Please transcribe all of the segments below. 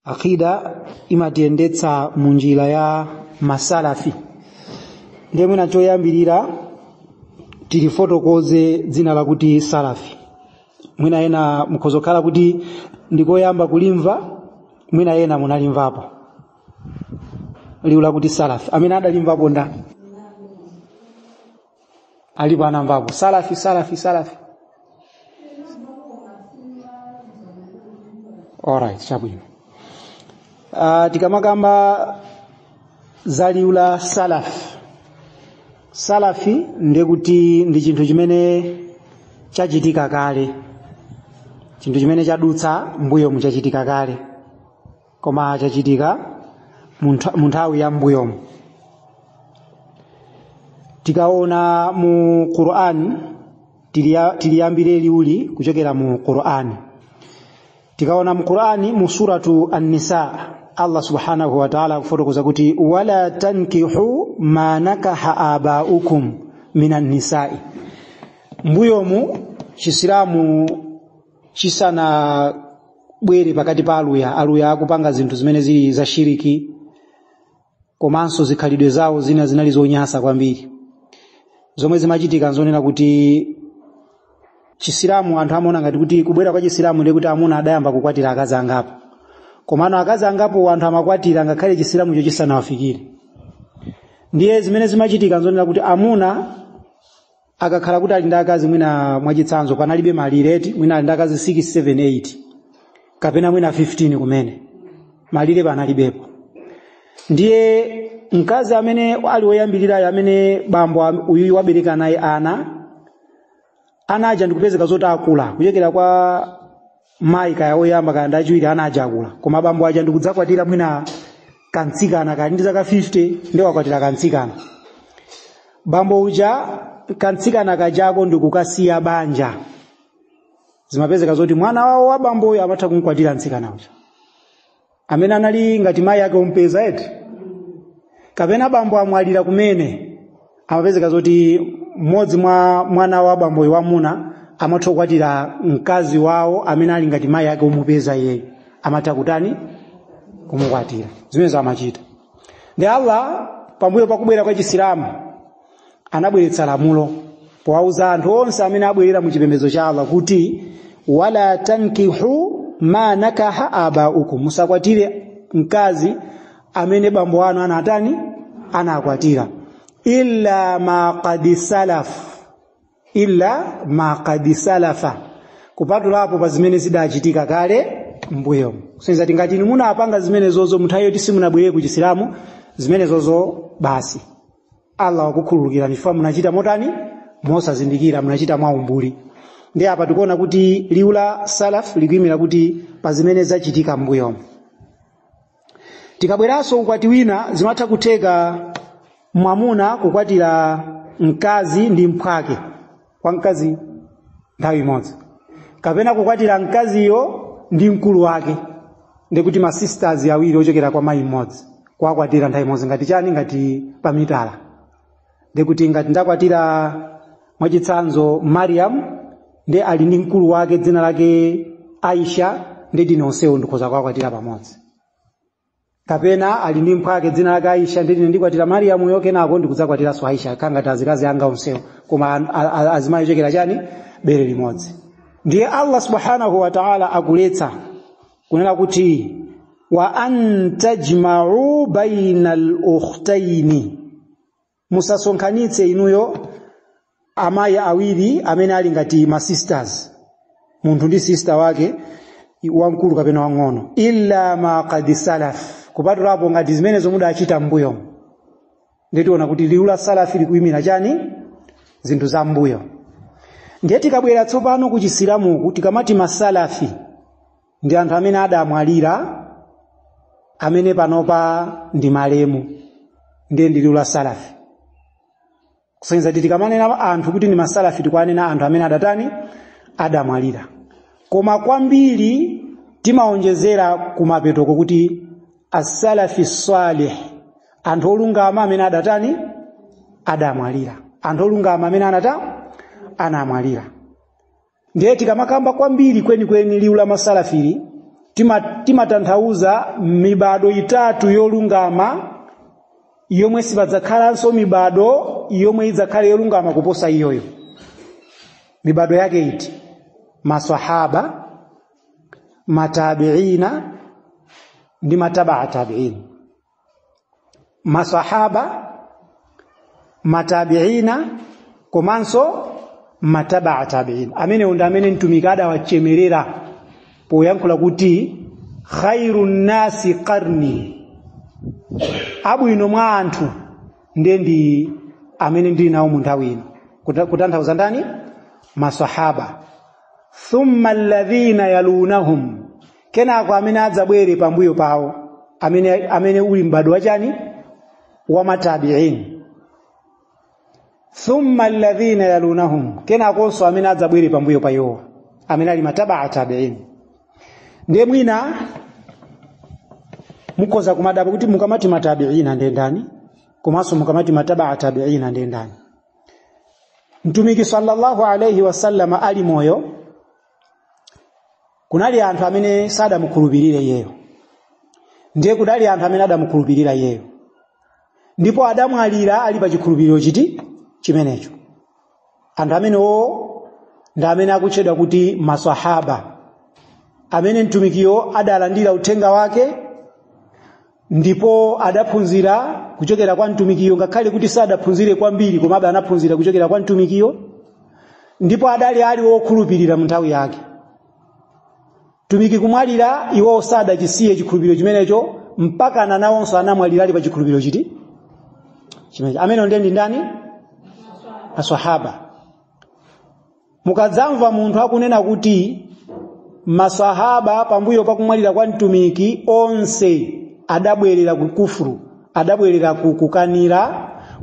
akida imatiyendetsa mu njira ya masalafi ndiye mwina choyambirira tilifotokoze dzina lakuti salafi mwina ena mukhozokhala kuti ndikoyamba kulimva mwina ena munalimvapo liwu lakuti salafi amene adalimvapo ndani alipo anamvapo salafi salafi salafi alright chabwino uh, tikamakamba za liwu la salafi salafi ndiye kuti ndi chinthu chimene chachitika kale chinthu chimene chadutsa mbuyomu chachitika kale koma chachitika muntha- munthawi ya mbuyomu tikaona mu qur'an tiliya- tiliyambire liwuli kuchokera mu qur'ani tikaona mu qur'ani mu suratu an-nisa allah subhanahu wa ta'ala akufotokoza kuti wala tankihu ma nakaha abaukum minan nisa'i mbuyomu chisilamu chisanabwere pakati pa aluya aluya akupanga zinthu zimene zili za shiriki komanso zikhalidwe zawo zina zinali zonyasa kwambiri zomwe zimachitika nzonena kuti chisilamu anthu amaona ngati kuti kubwera kwa chisilamu ndiye kuti amuna adayamba kukwatira akazi angapo komano akazi angapo anthu amakwatira ngakhale chisilamucho chisanawafikire ndiye zimene zimachitika nzonena kuti amuna akakhala kuti ali ndi akazi mwina mwachitsanzo panalibe malire eti mwina ali ndi akazi 6 7 8 kapena mwina 15 kumene malire panalibepo ndiye mkazi amene ali woyambirirayo amene bambo am- uyuyu wabereka naye ana ana aja ndikupezeka zoti akula kuchokera kwa mayi kaya oyamba kaya ndachiwiri ana aja akula koma bambo aja ndikudzakwatira mwina kamtsikana kali ndi zaka 50 ndiye wakwatira kamtsikana bambo uja kamtsikana kajako ndikukasiya banja zimapezeka zoti mwana wawo wa bamboyo amatha kumkwatira mtsikana uja amene anali ngati mayi ake ompeza eti kapena bambo amwalira kumene amapezeka zoti mmodzi mwa mwana wa bamboyo wamuna amatha kukwatira mkazi wawo amene ali ngati mayi ake omupeza iyeyo amatha kutani kumukwatira zimenezo amachita ndiye allah pambuyo pakubwera kwa chisilamu anabweretsa lamulo powauza anthu onse amene abwerera mu chipembedzo cha Allah kuti wala tankihu ma nakaha abaukum musakwatire mkazi amene bambo anu anatani anakwatira illa ma qad salaf illa ma qad salafa kupatulapo pa zimene zidachitika kale mbuyo senza tingati inu munapanga zimenezozo munthawi yoti simunabwerere ku chisilamu zimenezozo basi allah wakukhululukirani chifukwa munachita motani mosazindikira munachita mwaumbuli ndiye apa tikuona kuti liwu la salaf likuyimira kuti pa zimene zachitika m'mbuyomo tikabweranso ukwati wina zimatha kutheka mwamuna kukwatira mkazi ndi mphwake kwa mkazi nthawi imodzi kapena kukwatira mkaziyo ndi mkulu wake ndikuti ma sisters awiri ochokera kwa mayi mmodzi kuwakwatira nthawi imodzi ngati chani ngati pamitala ndikuti ngati ndakwatira mwachitsanzo mariam ndiye ali ndi mkulu wake dzina lake aisha ndiye ine onsewo ndikhoza kuwakwatira pamodzi kapena ali ndi mphwake dzina lake aisha ndine ndikwatira mariyamuyo kenako ndikudzakwatiranso aisha kukhala ngati azikazi anga onsewo koma azimayi ochokera chani bere limodzi ndiye allah subhanahu wa taala akuletsa kunena kuti wa an tajmau baina lukhtaini musasonkhanitse inuyo amayi awiri amene ali ngati ma sisters munthu ndi sister wake wamkulu kapena wang'ono illa ma qad salaf kupatulapo ngati zimenezo mudachita mbuyo ndiye tiona kuti liwu la salafi likuimira chani zinthu za mbuyo ndiye tikabwera tsopano ku chisilamuku tikamati masalafi ndi anthu amene adamwalira amene panopa ndi malemu ndiye ndi liwu la salafi kusonyeza kuti tikamanena anthu kuti ndi masalafi tikuwanena anthu amene adatani adamwalira koma kwambiri timaonjezera kumapetoko kuti asalafi salih anthu olungama amene adatani adamwalira anthu olungama amene anatani anamwalira ndiye tikamakamba kwambiri kwenikweni liwu la masalafili tima- timatanthauza mibado itatu yolungama yomwe sipadzakhalanso mibado yomwe idzakhale yolungama kuposa iyoyo mibado yake iti masahaba matabiina ndi matabaa tabiina masahaba matabiina komanso matabaa tabiina amenewo ndi amene mtumiki adawachemerera poyankhula kuti khairu nnasi qarni abwino mwa anthu ndi amene ndili nawo mu nthawi ino kutanthauza ndani masahaba thumma alladhina yalunahum kenako amene adzabwere pambuyo pawo amene uli m'bado wachani wa matabiin thumma alladhina yalunahum kenakonso amene adzabwere pambuyo pa iwo amene ali matabaa tabiin ndiye mwina mukhoza kumadaba kuti mukamati matabiina ndiye ndani komanso mukamati matabaa tabiina ndiye ndani mtumiki sallallahu alaihi wasallama ali moyo kunali anthu amene sadamukhulupirire iyeyo ndiye kudali anthu amene adamukhulupirira iyeyo ndipo adamwalira ali pa chikhulupiriro chiti chimenecho anthu amenewo ndi amene akutchedwa kuti maswahaba amene mtumikiyo adalandira uthenga wake ndipo adaphunzira kuchokera kwa mtumikiyo ngakhale kuti sadaphunzire kwambiri komabe anaphunzira kuchokera kwa mtumikiyo ndipo adali ali wokhulupirira mu nthawi yake mtumiki kumwalira iwo sadachisiye chikhulupiriro chimenecho mpakana nawonso anamwalira ali pa chikhulupiriro chiti chimenecho amene ndiye ndi ndani maswahaba mukadzamva munthu akunena kuti masahaba pambuyo pa kumwalira kwa mtumiki onse adabwerera ku kufuru adabwerera ku kukanira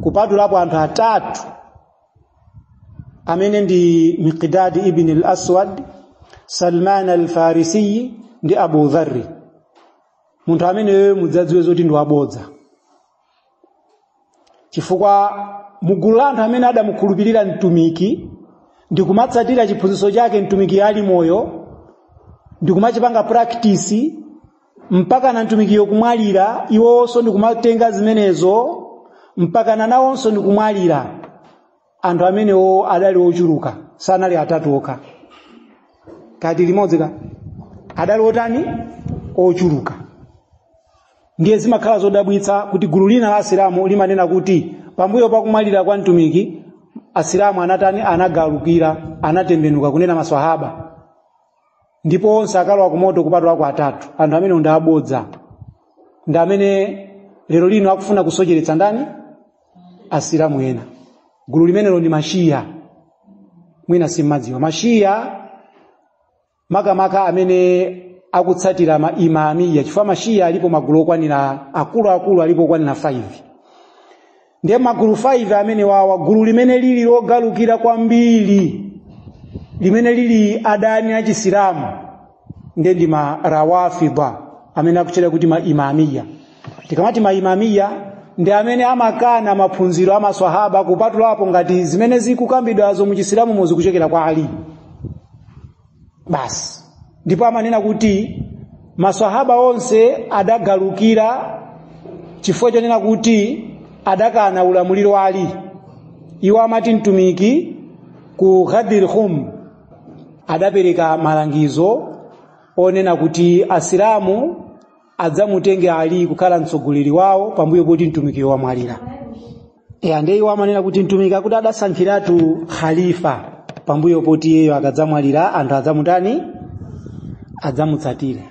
kupatulapo anthu atatu amene ndi miqdadi ibn al-aswad salman al-farisiyi ndi abu dharri munthu ameneyo mudzadziwe zoti ndi wabodza chifukwa mugulu la anthu amene adamukhulupirira mtumiki ndi kumatsatira chiphunzitso chake mtumiki ali moyo ndi kumachipanga practice mpakana mtumikiyo kumwalira iwowonso ndi kumatenga zimenezo mpakana nawonso ndi kumwalira anthu amenewo adali ochuluka sanali atatu okha kati limodzi ka adali otani ochuluka ndiye zimakhala zodabwitsa kuti gulu lina la asilamu limanena kuti pambuyo pa kumwalira kwa mtumiki asilamu anatani anagalukira anatembenuka kunena maswahaba ndipo onse akalowa kumoto kupatulako atatu anthu amenewo ndi abodza ndi amene lero lino akufuna kusocheretsa ndani asilamu ena gulu limenelo ndi mashiya mwina simmadziwa mashiya makamaka amene akutsatira ma imamiya chifukwa mashiya alipo magulu okwanira akuluakulu alipo okwanira 5 ndiye mmagulu 5 amenewawa gulu limene lili logalukira kwambiri limene lili adani a chisilamu ndiye ndi ma rawafidha amene akutchedwa kuti ma imamiya tikamati ma imamiya ndi amene amakana maphunziro a maswahaba kupatulapo ngati zimene zikukambidwazo mu chisilamu mu zikuchokera kwa ali basi ndipo amanena kuti maswahaba onse adagalukira chifukwa chonena kuti adakana ulamuliro wa ali iwo amati mtumiki ku ghadir khum adapereka malangizo onena kuti asilamu adzamutenge ali kukhala mtsogoleri wawo pambuyo poti mtumikiyo wamwalira ya ndiye iwo amanena kuti mtumiki akuti adasankhiratu khalifa pambuyo poti iyeyo akadzamwalira anthu adzamutani adzamutsatire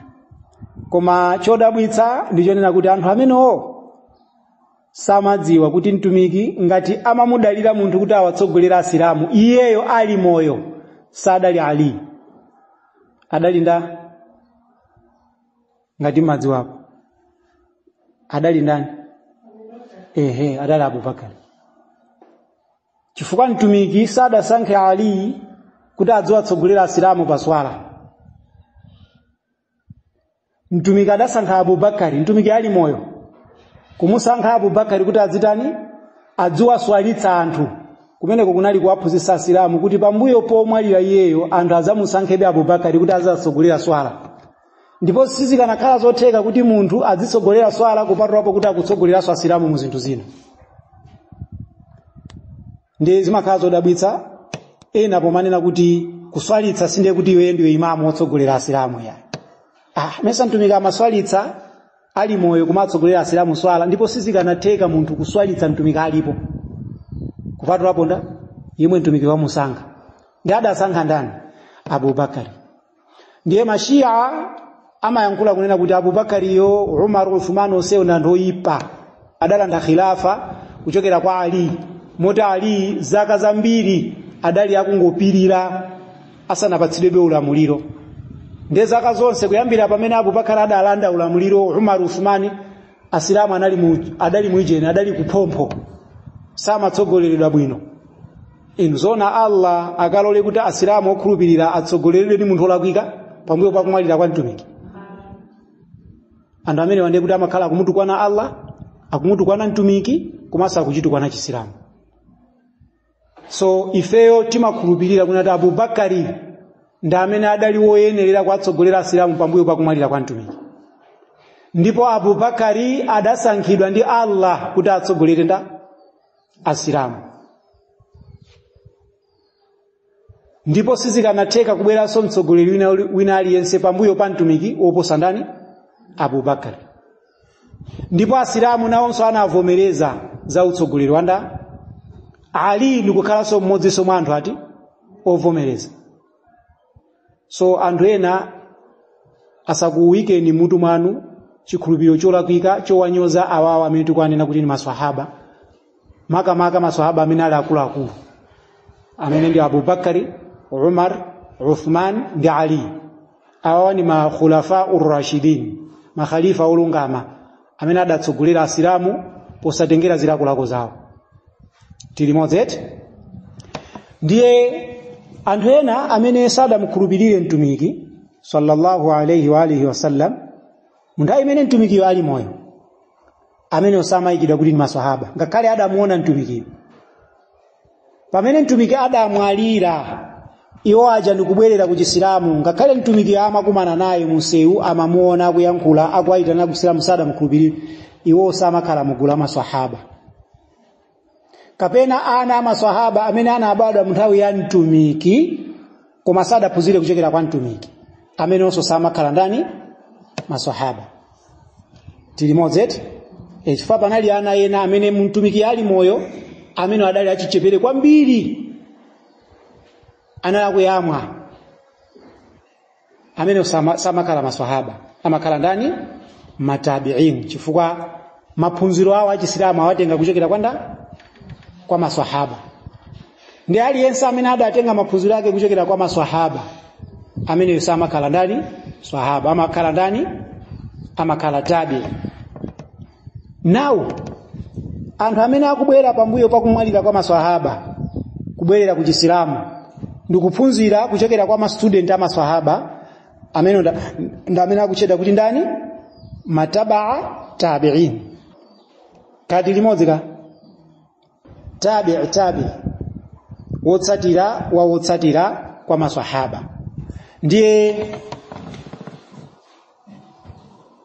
koma chodabwitsa ndichonena kuti anthu amenewo samadziwa kuti mtumiki ngati amamudalira munthu kuti awatsogolere asilamu iyeyo ali moyo sadali ali adali nda ngati mumadziwapo adali ndani ehe adali abubakar chifukwa mtumiki sadasankhe ali kuti adziwatsogolera asilamu pa swala mtumiki adasankha abubakari mtumiki ali moyo kumusankha abubakari kuti adzitani adziwaswalitsa anthu kumeneko kunali kuwaphunzitsa asilamu kuti pambuyo pomwalira iyeyo anthu adzamusankhebe abubakari kuti adzatsogolera swala ndipo sizikanakhala zotheka kuti munthu azitsogolera swala kupatulapo kuti akutsogoleranso asilamu mu zinthu zina ndi zimakhala zodabwitsa ena pomanena kuti kuswalitsa sindiye kuti iwe ndiwe imamu wotsogolera asilamu ya ah, mmesa mtumiki amaswalitsa ali moyo kumatsogolera asilamu swala ndipo sizikanatheka munthu kuswalitsa mtumiki alipo kupatulapo nda yemwe mtumiki wamusankha ndi adasankha ndani abubakari ndiye mashiya amayankhula kunena kuti abubakariyo umaru uthumani onsewo ndi anthu oyipa adalanda khilafa kuchokera kwa ali moti ali zaka zambiri adali akungopirira asanapatsidwebe ulamuliro ndiye zaka zonse kuyambira pamene abubakari adalanda ulamuliro umaru uthumani asilamu adali mu, adali mu ujeni adali kuphompho samatsogoleredwa bwino inu zona allah akalole kuti asilamu okhulupirira atsogoleredwe ndi munthu olakwika pambuyo pa kumwalira kwa mtumiki anthu amenewa nde kuti amakhala akumutukwana allah akumutukwana mtumiki komanso akuchitukwana chisilamu so ifeyo timakhulupirira kunena kuti abubakari ndi amene adali woyenerera kuwatsogolera asilamu pambuyo pa kumwalira kwa mtumiki ndipo abubakari adasankhidwa ndi allah kuti atsogolere nda asilamu ndipo sizikanatheka kubweranso mtsogoleri wina aliyense pambuyo pa mtumiki woposa ndani abubakari ndipo asilamu nawonso anavomereza za utsogoleri wa nda ali ndikukhalanso mmodzinso mwa anthu ati ovomereza so anthu ena asakuwikeni mutu mwanu chikhulupiriro cholakwika chowanyoza awawa amene tikuwanena kuti ni maswahaba makamaka maswahaba amene ali akuluakulu amene ndi abubakari umar uthman ndi ali awawa ni makhulafa urashidin makhalifa olungama amene adatsogolera asilamu posatengera zilakolako zawo ti limodzi eti ndiye anthu ena amene sadamkhulupirire mtumiki sallallahu alaihi wa alihi wasallam munthawi imene mtumikiyo ali moyo amenewo samayikidwa kuti ndi maswahaba ngakhale adamuona mtumikiyo pamene mtumiki adamwalira iwo aja ndikubwerera ku chisilamu ngakhale mtumiki amakumana naye musewu amamuona akuyankhula akuwayitana kuchisilamu sadamkhulupirire iwo samakhala mugulu la maswahaba kapena ana a maswahaba amene anabadwa mu nthawi ya mtumiki koma sadaphunzire kuchokera kwa mtumiki amenewonso samakhala ndani maswahaba tilimodzi eti e, chifukwa panali ana ena amene mtumiki ali moyo amene adali achichepere kwambiri ana akuyamwa amenewo samakhala maswahaba amakhala ndani matabiin chifukwa maphunziro awo achisilamu awatenga kuchokera kwanda kwa maswahaba ndi aliyense amene adatenga maphunziro ake kuchokera kwa maswahaba ameneyo samakhala ndani swahaba amakhala ndani amakhala tabi nawo anthu amene akubwera pambuyo pa kumwalira kwa maswahaba kubwerera ku chisilamu ndikuphunzira kuchokera kwa mastudenti a maswahaba amene ndi amene akutchedwa kuti ndani matabaa tabiin kati limodzi ka tabi tabi wotsatira wa otsatira kwa maswahaba ndiye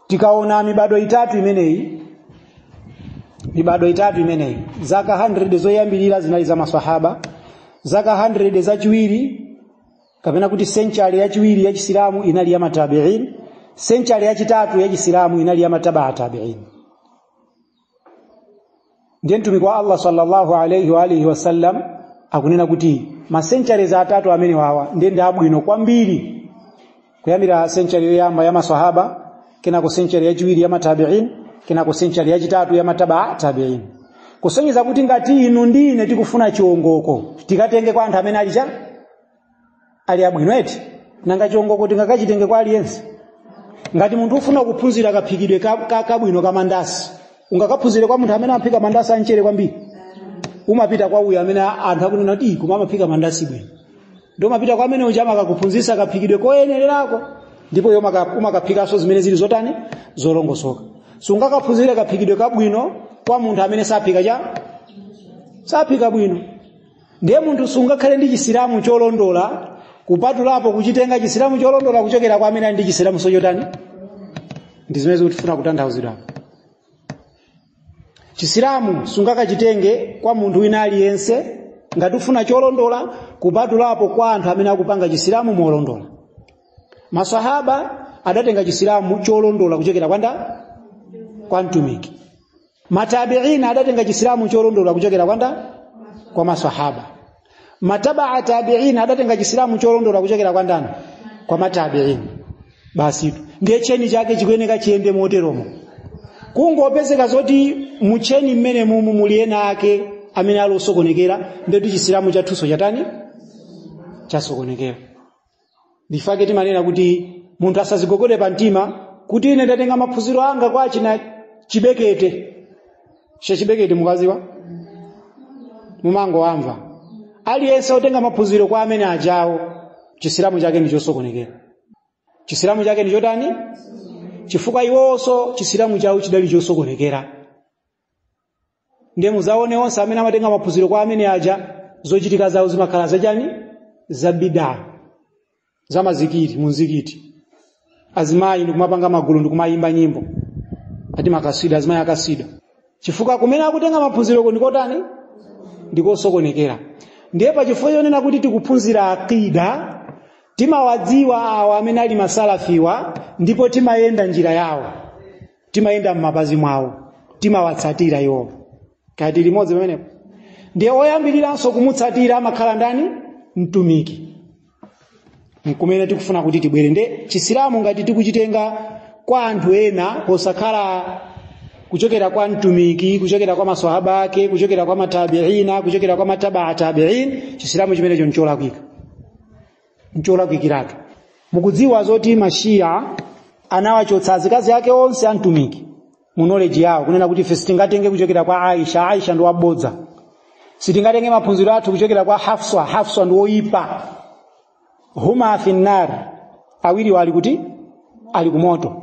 tikaona mibado itatu imeneyi mibado itatu imeneyi zaka 100 zoyambirira zinali za maswahaba zaka 100 zachiwiri kapena kuti senchali yachiwiri ya chisilamu inali ya matabiin senchali yachitatu ya chisilamu inali ya mataba tabiin ndiye mtumiki wa allah sallallahu alaihi wa alihi wasallam akunena kuti masenchariz atatu amenewawa ndiye ndi abwino kwambiri kuyambira senchari yoyamba ya masahaba kenako senchari yachiwiri ya matabiin kenako senchari yachitatu ya mataba tabiin kusonyeza kuti ngati inu ndi ine tikufuna chiongoko tikatenge kwa anthu amene ali cha ali abwino eti nanga chiongoko tingakachitenge kwa aliyense ngati munthu ufuna kuphunzira kaphikidwe kabwino ka, ka kabwino ka mandasi ungakaphunzire kwa munthu amene amaphika mandasi anchere kwambiri umapita kwa uyu amene anthu akunena kuti koma amaphika mandasi bwino ndiye umapita kwa ameneuja amakakuphunzitsa kaphikidwe koyenererako ndipo iwe umaka- umakaphikanso zimene zili zotani zolongosoka sungakaphunzire kaphikidwe kabwino kwa munthu amene saphika cha saphika bwino ndiye munthu sungakhale ndi chisilamu cholondola kupatulapo kuchitenga chisilamu cholondola kuchokera kwa amene ali ndi chisilamu cho chotani ndi zimene zikufuna kutanthauzidwapo chisilamu sungakachitenge kwa munthu wina aliyense ngati ufuna cholondola kupatulapo kwa anthu amene akupanga chisilamu molondola masahaba adatenga chisilamu cholondola kuchokera kwa nda kwa mtumiki matabiina adatenga chisilamu cholondola kuchokera kwa nda kwa masahaba matabaa tabiina adatenga chisilamu cholondola kuchokera kwa ndani kwa matabiina basi ndiye cheni chake chikuyeneka chiyende moteromo kungopezeka zoti mucheni mmene mumu muli ena ake amene ali osokonekera nde kuti chisilamu chathunso chatani chasokonekera ndi chifukwa chake timanena kuti munthu asazigogode pa mtima kuti ine ndatenga maphunziro anga kwa achina chibekete she chibekete mukuwadziwa mumangowamva aliyense otenga maphunziro kwa amene ajawo chisilamu chake ndi chosokonekera chisilamu chake ndi chotani chifukwa iwonso chisilamu chawo chidali chosokonekera ndiye muzaone onse amene amatenga maphunziro kwa amene aja zochitika zawo zimakhala zachani za bidaa za mazikiti munzikiti azimayi ndikumapanga magulu ndikumayimba nyimbo ati makasida azimayi akasida chifukwa kumene akutenga maphunziroko ndi kotani ndi kosokonekera ndiye pachifukwa chonena kuti tikuphunzira akida timawadziwa awa amene ali masalafiwa ndipo timayenda njira yawo timayenda m'mapazi mwawo timawatsatira iwowo kaya tili limodzi pamenepo ndiye oyambiriranso kumutsatira amakhala ndani mtumiki nkumene tikufuna kuti tibwere nde chisilamu ngati tikuchitenga kwa anthu ena osakhala kuchokera kwa mtumiki kuchokera kwa maswahaba ake kuchokera kwa matabiina kuchokera kwa matabaa tabiin chisilamu chimenecho ncholakwika ncholakwikiratu mukudziwa zoti mashia anawachotsa azikazi ake onse a mtumiki mu knowledge yawo kunena kuti ife sitingatenge kuchokera kwa aisha aisha ndi wabodza sitingatenge maphunziro athu kuchokera kwa hafsa hafsa ndi woyipa huma finnar awiriwo ali kuti ali kumoto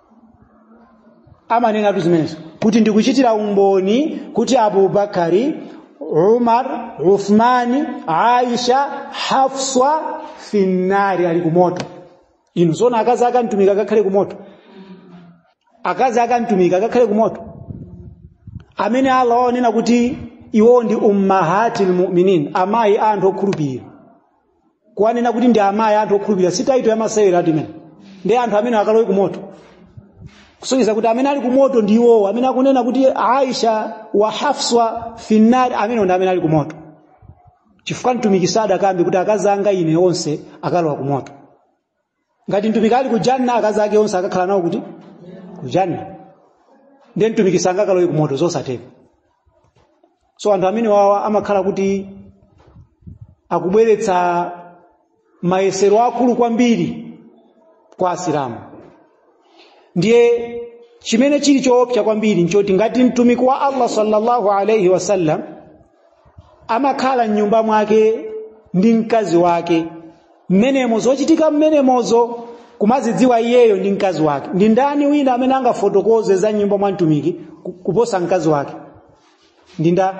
amanenatu zimenezo kuti ndikuchitira umboni kuti abubakari umar uthmani aisha hafsa finnari ali kumoto inu zoona akazi ake a mtumiki akakhale kumoto akazi ake a mtumiki akakhale kumoto amene allah wanena kuti iwo ndi ummahati lmuminin amayi a anthu okhulupirira kuwanena kuti ndi amayi anthu okhulupirira si title ya masewera ati amene ndi anthu amene akalowe ku moto kusonyeza kuti amene ali ku moto ndi iwowo amene akunena kuti aisha wa hafswa finnar ameneyo ndi amene ali ku moto chifukwa mtumiki sadakambe kuti akazi anga ine onse akalowa ku moto ngati mtumiki ali kujanna akazi ake onse akakhala nawo kuti kujanna ndiye mtumiki sangakalowe kumoto zosatheka so anthu amenewawa amakhala kuti akubweretsa mayesero akulu kwambiri kwa asilamu ndiye chimene chili choopsa kwambiri nchoti ngati mtumiki wa allah sallallahu alaihi wasallam amakhala mnyumba mwake ndi mkazi wake mmenemo zochitika mmenemozo kumazidziwa iyeyo ndi mkazi wake ndi ndani wina amene angafotokoze za mnyumba mwa mtumiki ku- kuposa mkazi wake ndi ndani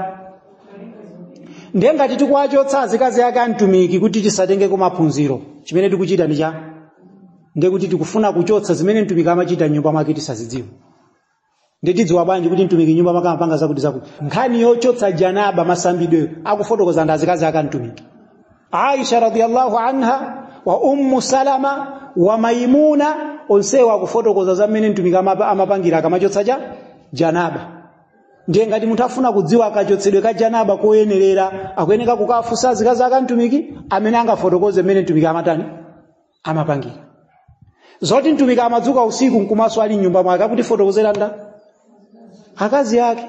ndiye ngati tikuwachotsa azikazi ake a mtumiki kuti tisatengeko maphunziro chimene tikuchita ndi cha ndiye kuti tikufuna kuchotsa zimene mtumiki amachita mnyumba mwake tisazidziwa nde tidziwa bwanji kuti mtumiki mnyumba mwake amapanga zakuti zakuti nkhani yochotsa janaba masambidweyo akufotokoza ndi azikazi ake a mtumiki aisha radiyallahu anha wa ummu salama wa maimuna onsewo akufotokoza za mmene mtumiki amapa- amapangira akamachotsa chani janaba ndiye ngati munthu afuna kudziwa kachotsedwe ka janaba koyenerera akuyeneka kukafunsa azikazi ake a mtumiki amene angafotokoze mmene mtumiki amatani amapangira zoti mtumiki amadzuka usiku nkumaswali mnyumba mwake akutifotokozera nda akazi ake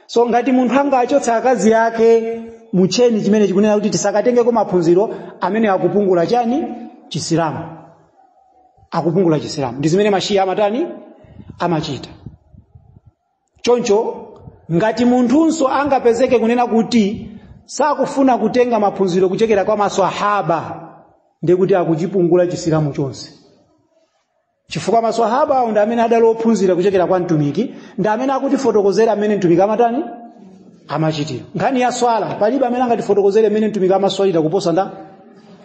so ngati munthu angachotse akazi ake mu tcheni chimene chikunena kuti tisakatengeko maphunziro ameneyo akupungula chani chisilamu akupungula chisilamu ndi zimene mashiya amatani amachita choncho ngati munthunso angapezeke kunena kuti sakufuna kutenga maphunziro kuchokera kwa maswahaba ndekuti akuchipungula chisilamu chonse chifukwa maswahaba awo ndi amene adali ophunzira kuchokera kwa mtumiki ndi amene akutifotokozera mmene mtumiki amatani amachitira nkhani ya swala palibe amene angatifotokozere mmene mtumiki amaswalirira kuposa nda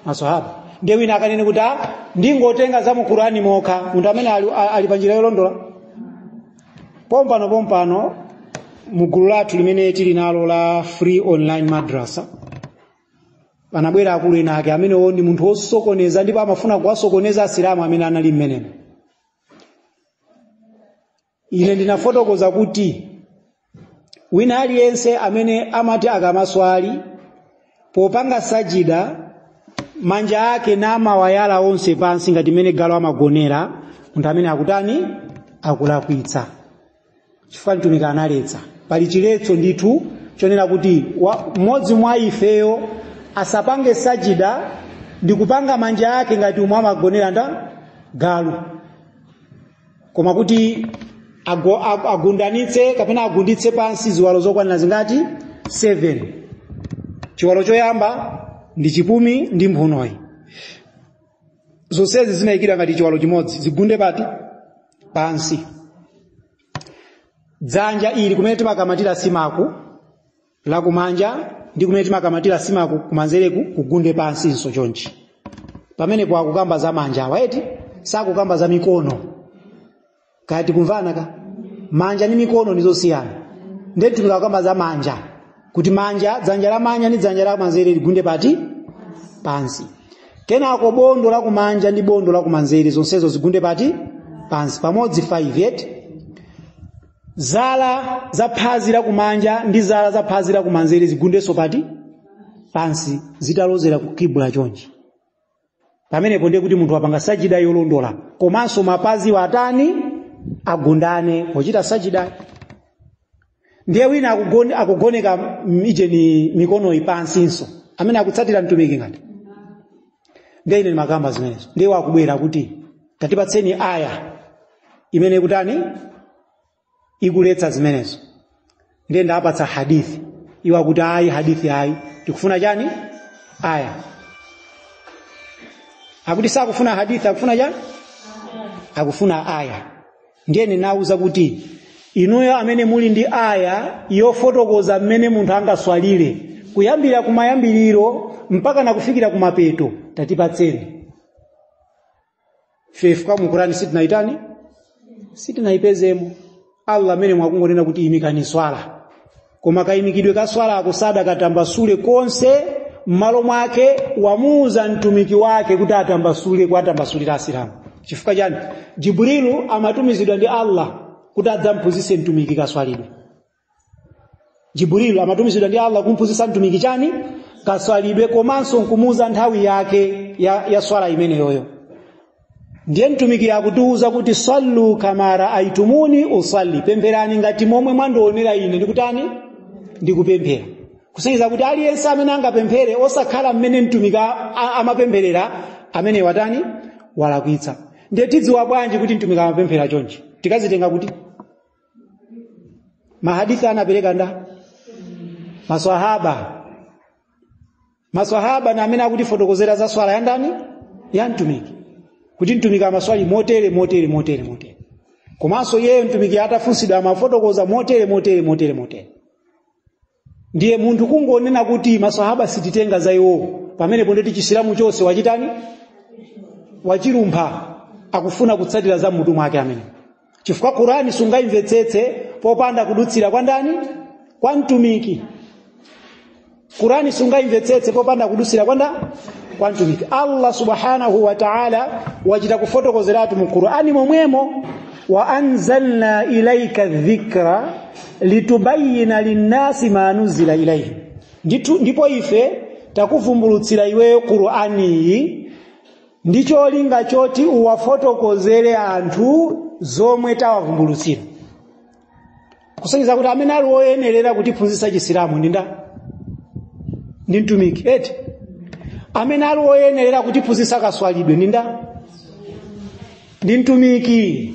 maswahaba ndiye wina akanene kuti "Ah, ndingotenga za mu kurani mokha munthu amene ali, ali pa njira yolondola pompano pompano mu gulu lathu limene tili nalo la free online madrasa panabwera akulu ena ake amene ndi munthu wosokoneza ndipo amafuna kuwasokoneza asilamu amene anali mmenemo ine ndinafotokoza kuti wina aliyense amene amati akamaswali popanga sajida manja ake namawayala onse pansi ngati mmene galu amagonera munthu amene akutani akulakwitsa chifukwa mtumiki analetsa pali chiletso ndithu chonena kuti wa- mmodzi mwa ifeyo asapange sajida ndi kupanga manja ake ngati umwe amagonera nda galu koma kuti ago- ag- agundanitse kapena agunditse pansi ziwalo zokwanira zingati 7 chiwalo choyamba ndi chipumi ndi mphunoyi zonsezi zimayikidwa ngati chiwalo chimodzi zigunde pati pansi dzanja ili kumene timakamatira nsimaku lakumanja ndi kumene timakamatira nsima ku- kumanzereku kugunde pansinso chonchi pamenepo akukamba za manja awa eti sakukamba za mikono kaya tikumvana ka manja ndi mikono ndi zosiyana ndiye mtumiki akukamba za manja kuti manja dzanja la manja ndi dzanja la manzere ligunde pati pansi kenako bondo la kumanja ndi bondo la kumanzere zonsezo zigunde pati pansi pamodzi 5 eti zala za phazi lakumanja ndi zala za phazi lakumanzere zigundenso pati pansi zitalozera ku kibula chonchi pamenepo ndiye kuti munthu wapanga sajida yolondola komanso mapaziwa atani agundane pochita sajida ndiye wina akugone, akugoneka ijeni mikonoyi pansinso amene akutsatira mtumiki ngati ndiye ine ndimakamba zimenezo ndiye wakubwera kuti tatipatseni aya imene ikutani ikuletsa zimenezo ndiye ndawapatsa hadithi iwo akuti ayi hadithi ayi tikufuna chani aya akuti sakufuna hadithi akufuna chani akufuna aya ndiye ndinauza kuti inuyo amene muli ndi aya yofotokoza mmene munthu angaswalire kuyambira kumayambiriro mpaka nakufikira kumapeto tatipatseni ife chifukwa mu qurani sitinaitani sitinaipezemo allah m'menemo akungonena kuti imikani swala koma kayimikidwe ka swalako sadakatambasule konse m'malo mwake wamuuza mtumiki wake kuti atambasule kuwatambasulira asilamu chifukwa chani jibrilu amatumizidwa ndi allah kuti adzamphunzitse mtumiki kaswalidwe jibril amatumizidwa ndi allah kumphunzitsa mtumiki chani kaswalidwe komanso nkumuuza nthawi yake ya, ya swala imeneyoyo ndiye mtumiki akutiuza kuti sallu kama raaitumuni usalli pempherani ngati momwe mwandionera ine ndikutani ndikupemphera kusonyeza kuti aliyense amene angapemphere osakhala mmene mtumiki a- a- amapempherera amene watani walakwitsa ndiye tidziwa bwanji kuti mtumiki amapemphera chonchi tikazitenga kuti mahadithi anapereka ndi maswahaba maswahaba na amene akutifotokozera za swala ya ndani ya mtumiki kuti mtumiki amaswali motere motere motere motere komanso iyeyo mtumiki atafunsidwa amafotokoza motere motere motere motere ndiye munthu kungonena kuti masahaba sititenga za iwowo pamenepo ndeti chisilamu chonse wachitani wachilumpha akufuna kutsatira za mmutu mwake amene chifukwa qurani sungayimvetsetse popanda kudutsira kwa ndani kwa mtumiki qurani sungayimvetsetse popanda kudutsira kwa ndani kwa mtumiki allah subhanahu wa taala wachita kufotokozeratu mu qurani momwemo wa anzalna ilaika dhikra litubayina linnasi ma nuzila ilaihim ndipo ife takuvumbulutsira iweyo qur'aniyi ndi cholinga choti uwafotokozere anthu zomwe tawavumbulutsira kusonyeza kuti amene ali woyenerera kutiphunzitsa chisilamu ndi ndani ndi mtumiki eti amene ali woyenerera kutiphunzitsa kaswalidwe ndi ndani ndi mtumiki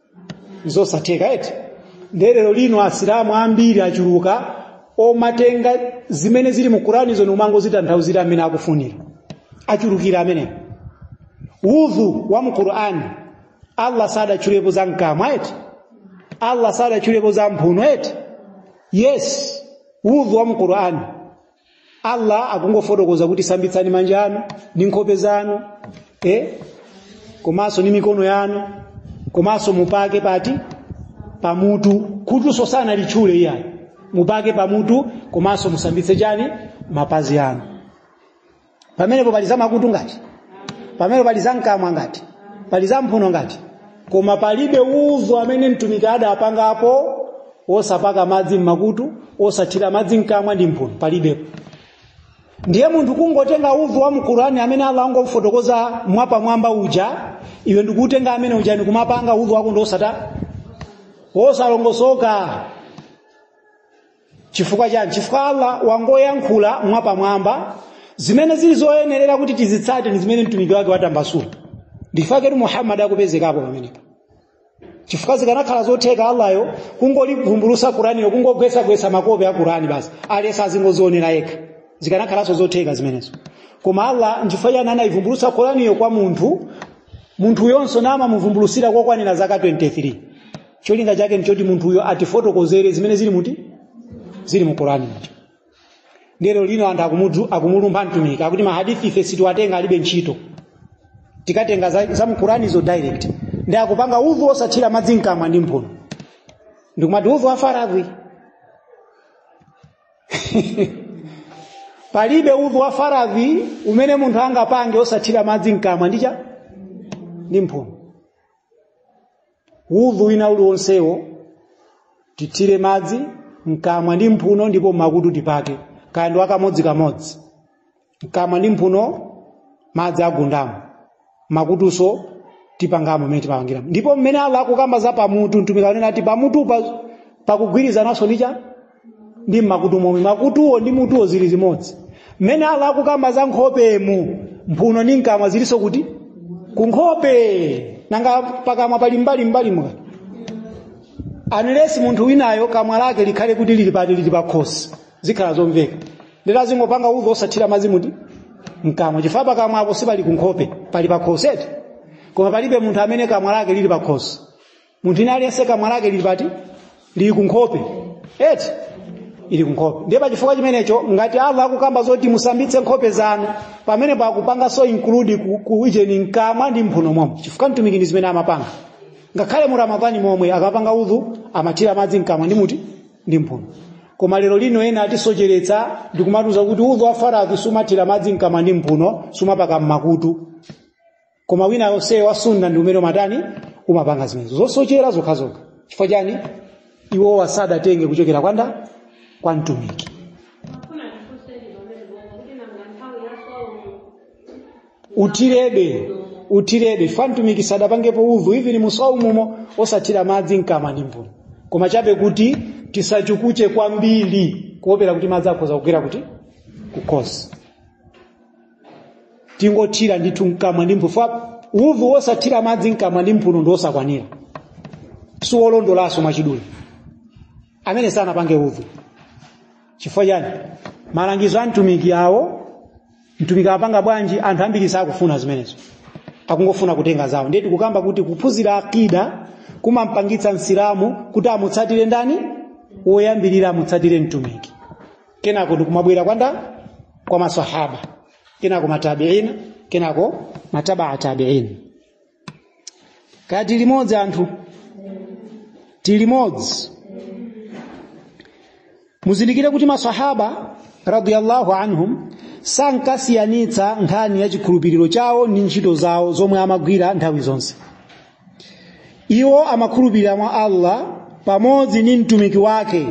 zosatheka eti ndiye lero lino asilamu ambiri achuluka omatenga zimene zili mu kuranizo nikumangozitanthauzira mmene akufunira achulukira amenewa wudhu wa mu qurani allah sadatchulepo za mkamwa eti allah sadatchulepo za mphuno eti yes wudhu wa mu qurani allah akungofotokoza kuti sambitsani manja anu ndi nkhope zanu komanso ndi mikono yanu komanso mupake pati pamutu khutuso sanalitchule iyayi mupake pamutu komanso musambitse chani mapazi anu pamenepo pali zamakutu ngati pamenepo pali zamkamwa ngati pali zamphuno ngati koma palibe uzu amene mtumiki adapangapo wosapaka madzi mmakutu wosathira madzi mkamwa ndi mphuno palibepo ndiye munthu kungotenga uzu wa mkurani amene allah angofotokoza mwapamwamba uja iwe ndikuutenga amene uja ndikumapanga uzu wako ndiwosata wosalongosoka chifukwa chani chifukwa allah wangoyankhula mwapamwamba zimene zili zoyenerera kuti tizitsate ndi zimene mtumiki wake watambasula ndifake kuti muhammad akupezekapo pamenepo chifukwa zikanakhala zotheka allayo kungolivumbulusa kuraniyo kungogwesagwesa makope a kurani basi aliyense azingozionera yekha zikanakhalanso zotheka zimenezo koma allah nchifukwa chani anayivumbulusa kuraniyo kwa munthu munthuyonso namamuvumbulutsira kokwanira zaka 23 cholinga chake nchoti munthuyo atifotokozere zimene zili muti zili mu qurani muja ndero lino anthu akumudzu- akumulumpha mtumiki akuti mahadithi ife sitiwatenga alibe ntchito tikatenga za, za mqur'anizo direct ndi akupanga udhu osathira madzi mkamwa ndi mphuno ndikumati udhu wafaradhi palibe udhu wa faradhi umene munthu angapange osathira madzi mkamwa ndi cha ndi mphuno udhu wina ulionsewo tithire madzi mkamwa ndi mphuno ndipo mmakutu tipake kaya ndi wakamodzikamodzi mkamwa ndi mphuno madzi agundamo makutunso tipangamo mmene tipangiramo ndipo mmene allah akukamba za pamutu mtumiki anena ati pamutupa pakugwirizananso ndi cha ndi makutu momwe makutuwo ndi mutuwo zili zimodzi mmene allah akukamba za nkhopemu mphuno ndi mkamwa zilinso kuti kunkhope nanga pakamwa pali mbali mbali mwa unless munthu winayo kamwa lake likhale kuti lili pati lili pakhosi zikhala zomveka ndita azingopanga udhu osathira madzi muti mkamwa chifukwa pakamwa apo sipali kunkhope pali pakhosi eti koma palibe munthu amene kamwa lake lili pakhosi munthu wina aliyense kamwa lake lili pati lili kunkhope eti ili kunkhope ndiye pachifukwa chimenecho ngati allah akukamba zoti musambitse nkhope zanu pamene pakupanga so include ku- kuujeni mkamwa ndi mphuno momwe chifukwa mtumiki ndi zimene amapanga ngakhale mu ramadhani momwe akapanga udhu amathira madzi mkamwa ndi muti ndi mphuno koma lero lino ena atisocheretsa ndikumatiuza kuti udhu wa faradhi sumathira madzi mkamwa ndi mphuno sumapaka mmakutu koma wina wonse wa sunna ndi umene umatani umapanga zimenezo zosochera zokhazokha chifukwa chani iwowa sadatenge kuchokera kwa nda kwa mtumiki ukulibe ukulibe chifukwa mtumiki sadapangepo udhu even mu saumumo osathira madzi mkamwa ndi mphuno koma chabe kuti tisachukuche kwambiri kuopera kuti madzi akhoza kugwera kuti kukhosi tingothira ndithu mkamwa ndi mphuno udhu wosathira madzi mkamwa ndi mphuno ndi wosakwanira siwolondolanso mwachidule ameneyo sanapange udhu chifukwa chani malangizo a mtumiki awo mtumiki apanga bwanji anthu ambiri sakufuna zimenezo akungofuna kutenga zawo ndiye tikukamba kuti kuphunzira akida kumampangitsa msilamu kuti amutsatire ndani woyambirira amutsatire mtumiki kenako ndikumabwera kwa nda kwa masahaba kenako matabiina kenako matabaa tabiina kaya tili limodzi anthu tili limodzi muzindikire kuti masahaba radiyallahu anhum sankasiyanitsa nkhani ya chikhulupiriro chawo ndi ntchito zawo zomwe amagwira nthawi zonse iwo amakhulupirira mwa allah pamodzi ndi mtumiki wake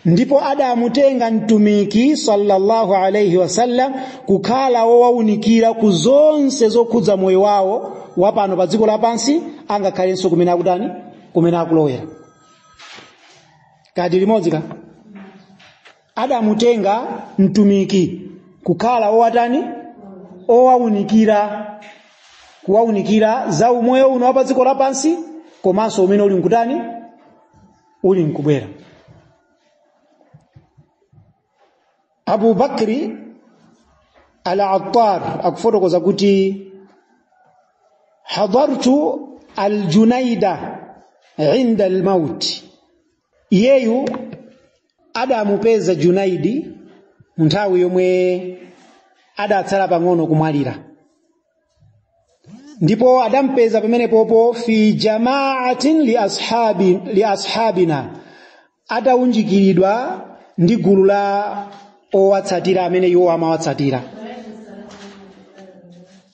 ndipo adamutenga mtumiki sallallahu alaihi wasallam kukhala wowaunikira ku zonse zokhudza moyo wawo wapano pa dziko lapansi angakhalenso kumene akutani kumene akulowera kati limodzi ka adamutenga mtumiki kukhala owatani owaunikira kuwaunikira za umoyo uno wapa dziko lapansi komanso umene uli nkutani uli nkubwera abu bakri al-attar akufotokoza kuti hadartu al-junaida inda al-maut iyeyu adamupeza junaidi nthawi yomwe adatsala pang'ono kumwalira ndipo adampeza pamenepopo fi jamaatin li ashabina ataunjikiridwa ndi gulu la owatsatira amene iwo amawatsatira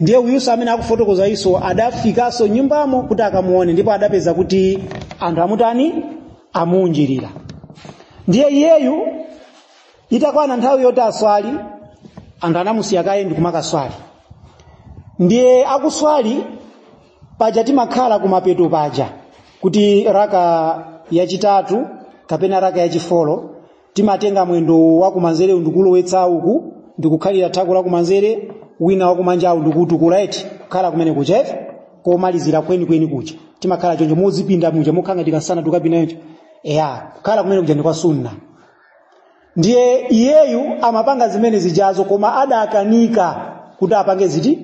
ndiye uyunso amene akufotokoza iso adafikanso m'nyumbamo kuti akamuone ndipo adapeza kuti anthu amutani amuunjikira ndiye iyeyu itakwana nthawi yoti aswali anthu anamusiya kaye ndikumakaswali ndiye akuswali paja timakhala kumapeto paja kuti raka yachitatu kapena raka yachifolo timatenga mwendo wakumanzere ndikulowetsa uku ndikukhalira thako lakumanzere wina wakumanjawu ndikutukula eti kukhala kumene kuja eti komalizira kwenikweni kuja timakhala choncho mozipinda muja mokhanga tikasana tikapinda choncho eya kukhala kumene kuja ndi kwa sunna ndiye iyeyu amapanga zimene zijazo koma adakanika kuti apange ziti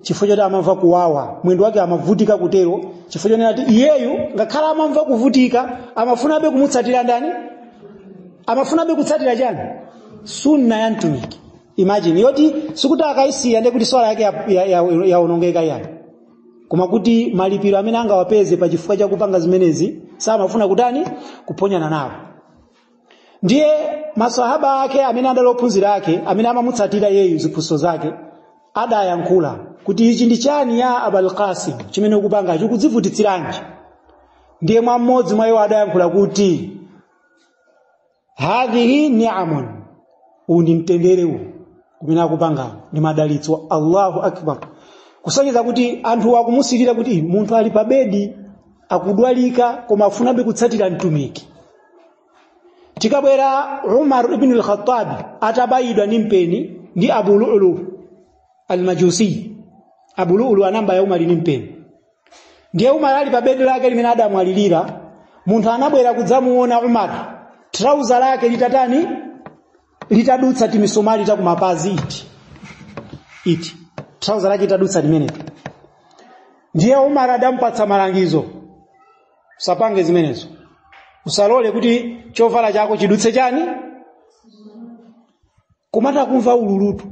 chifukwa choti amamva kuwawa mwendo wake amavutika kutero chifukwa chonena kuti iyeyu ngakhale amamva kuvutika amafunabe kumutsatira ndani amafunabe kutsatira chani sunna ya mtumiki imagine yoti sikuti akaisiya ndiye kuti swala yake yaonongeka ayi koma kuti malipiro amene angawapeze pa chifukwa cha kupanga zimenezi samafuna kutani kuphonyana nawo ndiye masahaba ake amene adali ophunzira ake amene amamutsatira iyeyu ziphunzitso zake adayankhula kuti ichi ndi chani ya abal qasim chimene ukupangachi ukudzivutitsiranji ndiye mwa mmodzi mwa iwo adayankhula kuti hadhihi niamun uwu ndi mtendere uwu kumene akupangako ndi madalitso allahu akbar kusonyeza kuti anthu akumusilira kuti "Ih, munthu ali pa bedi akudwalika koma afunabe kutsatira mtumiki tikabwera umar ibn al-khattabi atabayidwa ndi mpeni ndi abu lulu almajusi abu lulu anambaya umar ndi mpeni ndiye umar ali pa bedi lake limene adamwalirira munthu anabwera kudzamuona umar trauza lake litatani litadutsa timisomali takumapazi iti iti trauza lake litadutsa timeneto ndiye umar adampatsa malangizo usapange zimenezo usalole kuti chovala chako chidutse chani koma akumva ululutu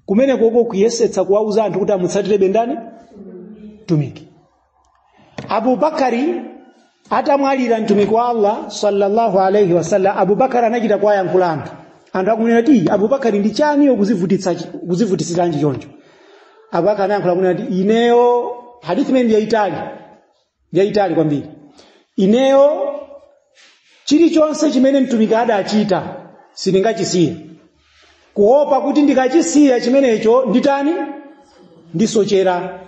kumenekoko kuyesetsa kuwauza anthu kuti amutsatirebe ndani mtumiki abubakari atamwalira mtumiki wa allah sallallahu alaihi wasallam abubakari anachita kuwayankhula anthu anthu akunena kuti abubakari ndi chani ukuzivutitsa kuzivutisiranji choncho abubakari anayankhula kunena ti ineyo hadithi imene ndiyayitali yayitali kwambiri ineyo chilichonse chimene mtumiki adachita sindingachisiye kuopa kuti ndikachisiya chimenecho nditani ndisochera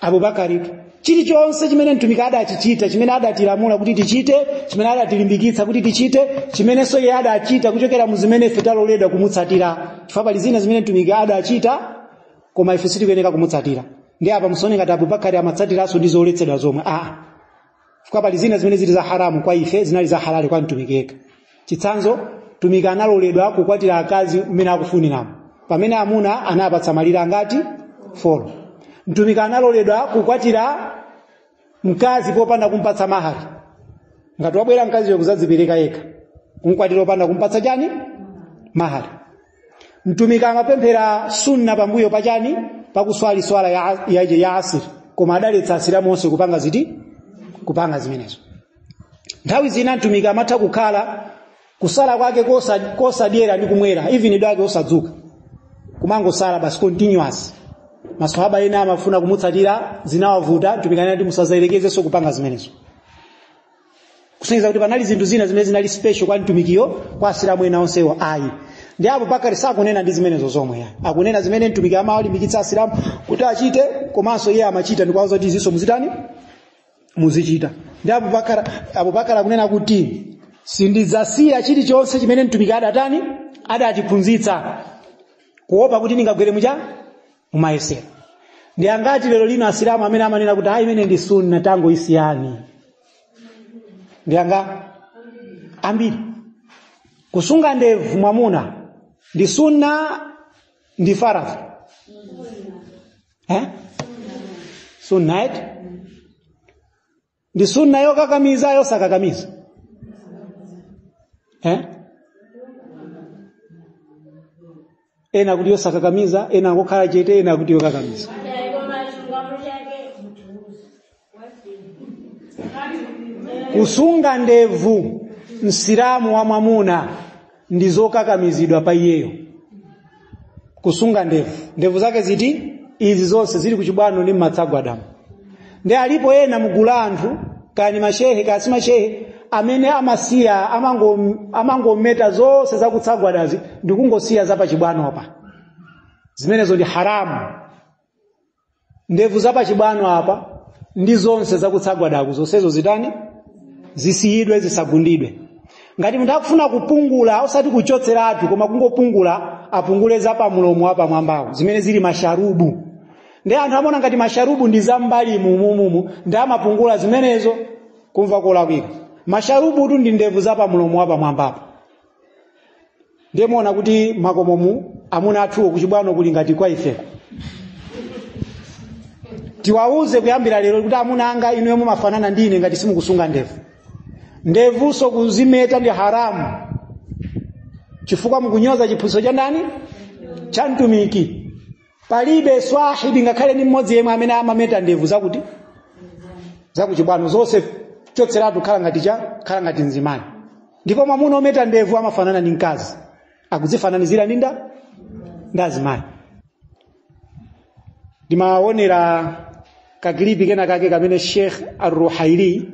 abubakaritu chilichonse chimene mtumiki adachichita chimene adatilamula kuti tichite chimene adatilimbikitsa kuti tichite chimenenso iye adachita kuchokera mu zimene ife taloledwa kumutsatira chifukwa pali zina zimene mtumiki adachita koma ife sitikuyenera kumutsatira ndiye apa musone ngati abubakari amatsatiranso ndi zoletsedwa zomwe aa chifukwa pali zina zimene zili za haramu kwa ife zinali za halali kwa mtumiki yekha chitsanzo mtumiki analoledwa kukwatira akazi mmene akufuniramo pamene amuna anawapatsa malire angati 4 mtumiki analoledwa kukwatira mkazi popanda kumpatsa mahari ngati wabwera mkaziyo kuzadzipereka yekha kumkwatira popanda kumpatsa chani mahari mtumiki amapemphera sunna pambuyo pa chani pakuswali swala ya, ya, ya asiri koma adaletsa asilamu onse kupanga ziti kupanga zimenezo nthawi zina mtumiki amatha kukhala kusala kwake kosa kosadyera ndi kumwera even idaku yake osadzuka kumangosala basi continuous maswahaba ena amafuna kumutsatira zinawavuta mtumiki anati musazayerekezenso kupanga zimenezo kusonyeza kuti panali zinthu zina zimene zinali special kwa mtumikiyo kwa asilamu ena onsewo ayi ndiye abubakari sakunena ndiye zimenezo zomwe ayi akunena zimene mtumiki amawalimbikitsa asilamu kuti achite komanso iye amachita ndikuwauza kuti izinso muzitani muzichita ndiye abubakar abubakar akunena kuti sindidzasiya chilichonse chimene mtumiki adatani adatiphunzitsa kuopa kuti ndingagwere mucha mumayesero ndi angati lero lino asilamu amene amanena kuti ayi imeneyo ndi sunna tango isiyani ndi anga ambiri kusunga ndevu mwamuna ndi sunna ndi faradhi eh? sunna eti ndi sunna yokakamiza yosakakamiza eh? ena kuti yosakakamiza ena angokhala chete ena kuti yokakamiza kusunga ndevu msilamu wa mwamuna ndi zokakamizidwa pa iyeyo kusunga ndevu ndevu zake ziti izi zonse zili kuchibwano ndi mmatsagwadamu ndiye alipo ena mgulu la anthu kaya ndi mashehe kaya si mashehe amene amasiya amango- amangometa zonse zakutsagwadazi ndikungosiya zapachibwano apa zimenezo ndi haramu ndevu zapachibwano apa ndi zonse zakutsagwadaku zonsezo zitani zisiyidwe zisagundidwe ngati munthu akufuna kupungula osati kuchotseratu koma kungopungula apungule zapamulomo wapamwambawo zimene zili masharubu ndiye anthu amaona ngati masharubu ndi zambali mumumumu ndiye amapungula zimenezo kumva kolakwika masharubutu ndi ndevu zapamulomo wapamwambapo ndiye muona kuti mmakomomu amuna athuwo kuchibwano kuli ngati kwa ifeko tiwauze kuyambira lero kuti amuna anga inuyo mumafanana ndi ine ngati simukusunga ndevu ndevunso kuzimeta ndi haramu chifukwa mukunyoza chiphunzitso cha ndani cha mtumiki palibe swahibi ngakhale ni mmodzi yemwe amene amameta ndevu zakuti zakuchibwano zonse kuchotseratu kukhala ngati cha kukhala ngati nzimayi ndipo mwamuna ometa ndevu amafanana ndi mkazi akudzifananizira ndi nda ndi azimayi ndimawonera kakilipi kena kake kamene sheikh arruhaili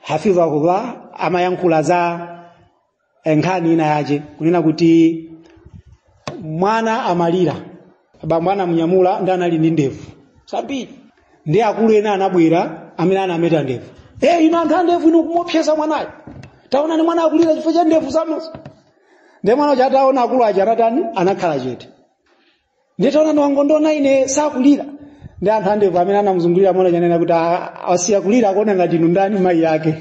hafidhahullah amayankhula za eh, nkhani ina yake kunena kuti mwana amalira abambo anamunyamula ndiye anali ndi ndevu zambiri ndiye akulu ena anabwera amene anameta ndevu e inu anthu a ndevu inu mukumuopseza mwanayo taonani mwana akulira chifukwa cha ndevu zanuzo ndiye mwana uja ataona akulu aja anatani anakhala chete nditaona wangondiona ine sakulira ndi anthu andevu amene anamuzungulira mwana achina kuti "Ah, asiya kulira akuona ngati inu ndinu mayi ake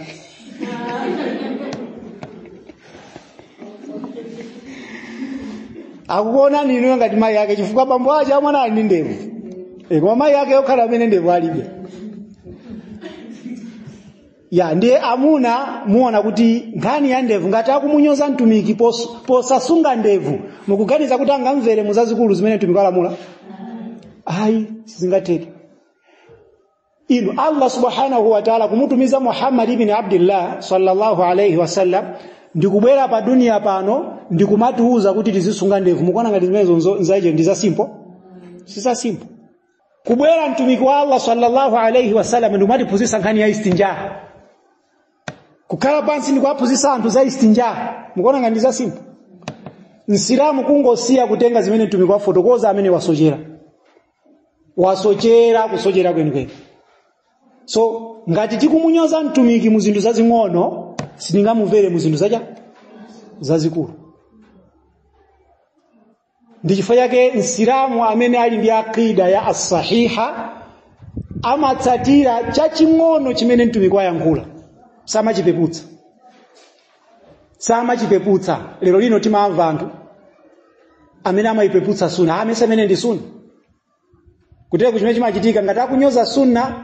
akukuonani inu ngati mayi ake chifukwa bambo ache amwana ali ndi ndevu Eh, koma mayi ake okha ndi amene ndevu alibe ya ndiye amuna muona kuti nkhani ya ndevu ngati akumunyoza mtumiki pos- posasunga ndevu mukuganiza kuti angamvere mu zazikulu zimene mtumiki walamula ayi sizingatheke inu allah subhanahu wa taala kumutumiza muhammad ibn abdillah sallallahu alaihi wasallam ndikubwera pa duniya pano ndikumatiuza kuti tizisunga ndevu mukuona ngati zimenezo nza- nzaje ndi za simple si za simple kubwera mtumiki wa allah sallallahu alaihi wasallam ndi kumatiphunzitsa nkhani ya istinja kukhala pansi ndi kuwaphunzitsa anthu za istinja mukuona ngati za simple msilamu kungosiya kutenga zimene mtumiki wafotokoza ameneyo wasochera wasochera kusochera kwenikweni so ngati tikumunyoza mtumiki mu zinthu zazing'ono sitingamumvere mu zinthu za chani zazikulu ndi chifukwa chake msilamu amene ali ndi aqida ya asahiha amatsatira chaching'ono chimene mtumiki wayankhula samachipeputsa samachipeputsa lero lino timamva anthu amene amayipeputsa suna amati zimene ndi suna kuteroko chimene chimachitika ngati akunyoza sunna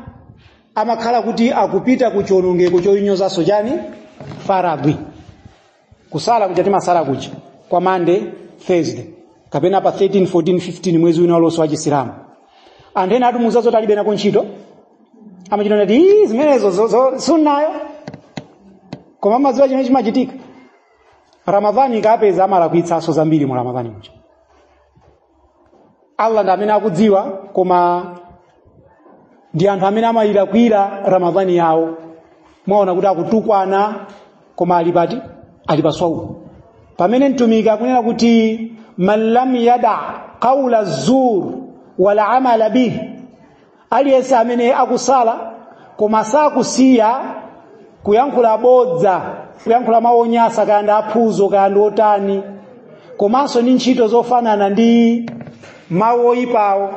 amakhala kuti akupita ku chiwonongeko choyinyozanso chani faradhi kusala kuja timasala kuja kwa monday thursday kapena pa 13 14 15 mwezi wina uliwonse wachisilamu anthu ena atuwuza zoti alibe nako ntchito amachita ngati "Ii, zimenezo zo- zo- sunnayo koma mudziwa chimene chimachitika ramadhani ikapeza amalakwitsanso zambiri mu ramadhani muja allah ndi amene akudziwa koma ndi anthu amene amayilakwira ramadhani yawo muona kuti akutukwana koma ali pati ali pa swaumu pamene mtumiki akunena kuti man lam yada qaula zur wal amala bih aliyense amene akusala koma sakusiya kuyankhula bodza kuyankhula mawu onyasa kaya ndi aphuzo kaya ndi otani komanso ndi ntchito zofanana ndi mawu oyipawo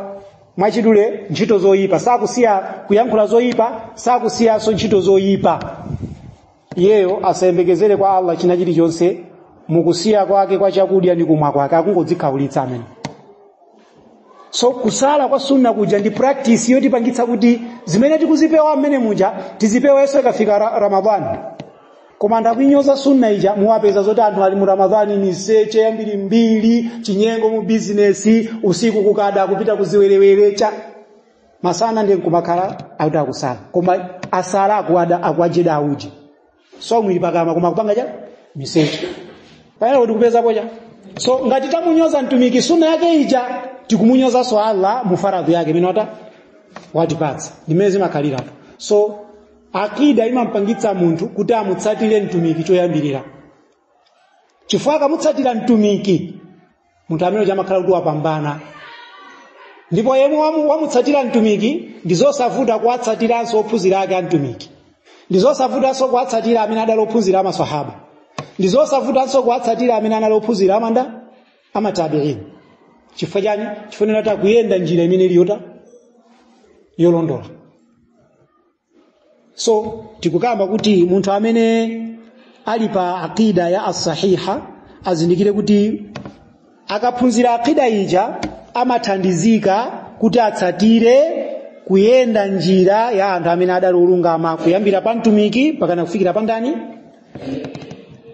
mwachidule ntchito zoyipa sakusiya kuyankhula zoyipa sakusiyanso ntchito zoyipa iyeyo asayembekezere kwa allah china chilichonse mukusiya kwake kwa chakudya ndi kumwa kwake akungodzikhaulitsa amene so kusala kwa sunna kuja ndi practice yotipangitsa kuti zimene tikuzipewa mmene muja tizipewenso ikafika ramadhani koma ndakuinyoza sunna ija muwapeza zoti anthu ali mu ramadhani miseche yambirimbiri chinyengo mu bizinesi usiku kukada kupita kuziwerewere cha masana ndi kumakhala akuti akusala koma asala akuwajeda auji so mwili pakamwa koma kupanga cha miseche payala kuti kupezapo cha so ngati tamunyoza mtumiki sunna yake ija tikumunyozanso allah mu faradhi yake imene watipatsa ndimene zimakhalirapo so akida imampangitsa munthu kuti amutsatire mtumiki choyambirira chifukwa akamutsatira mtumiki munthu amene uja amakhala kuti wapambana ndipo yemwe wamutsatira mtumiki ndi zosavuta kuwatsatiranso ophunzira ake a mtumiki ndi zosavutanso kuwatsatira amene adali ophunzira amaswahaba ndi zosavutanso kuwatsatira amene anali ophunzira a ndani a matabiini chifukwa chani chifukwa kuti akuyenda njira imene ili yotani yolondola so tikukamba kuti munthu amene ali pa aqida ya assahiha azindikire kuti akaphunzira aqida ija amathandizika kuti atsatire kuyenda njira ya anthu amene adali olungama kuyambira pa mtumiki pakana kufikira pa ndani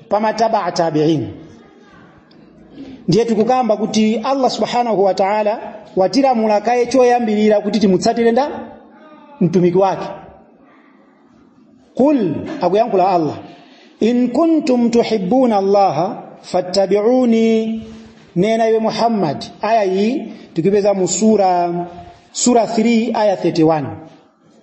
pa ma tabi tabiin ndiye tikukamba kuti allah subhanahu wa taala watilamula kaye choyambirira kuti timutsatire ndani mtumiki wake qul akuyankhula allah in kuntum tuhibbuna allaha fattabiuni nena iwe muhammad aya iyi tikuipeza mu sura sura 3 aya 31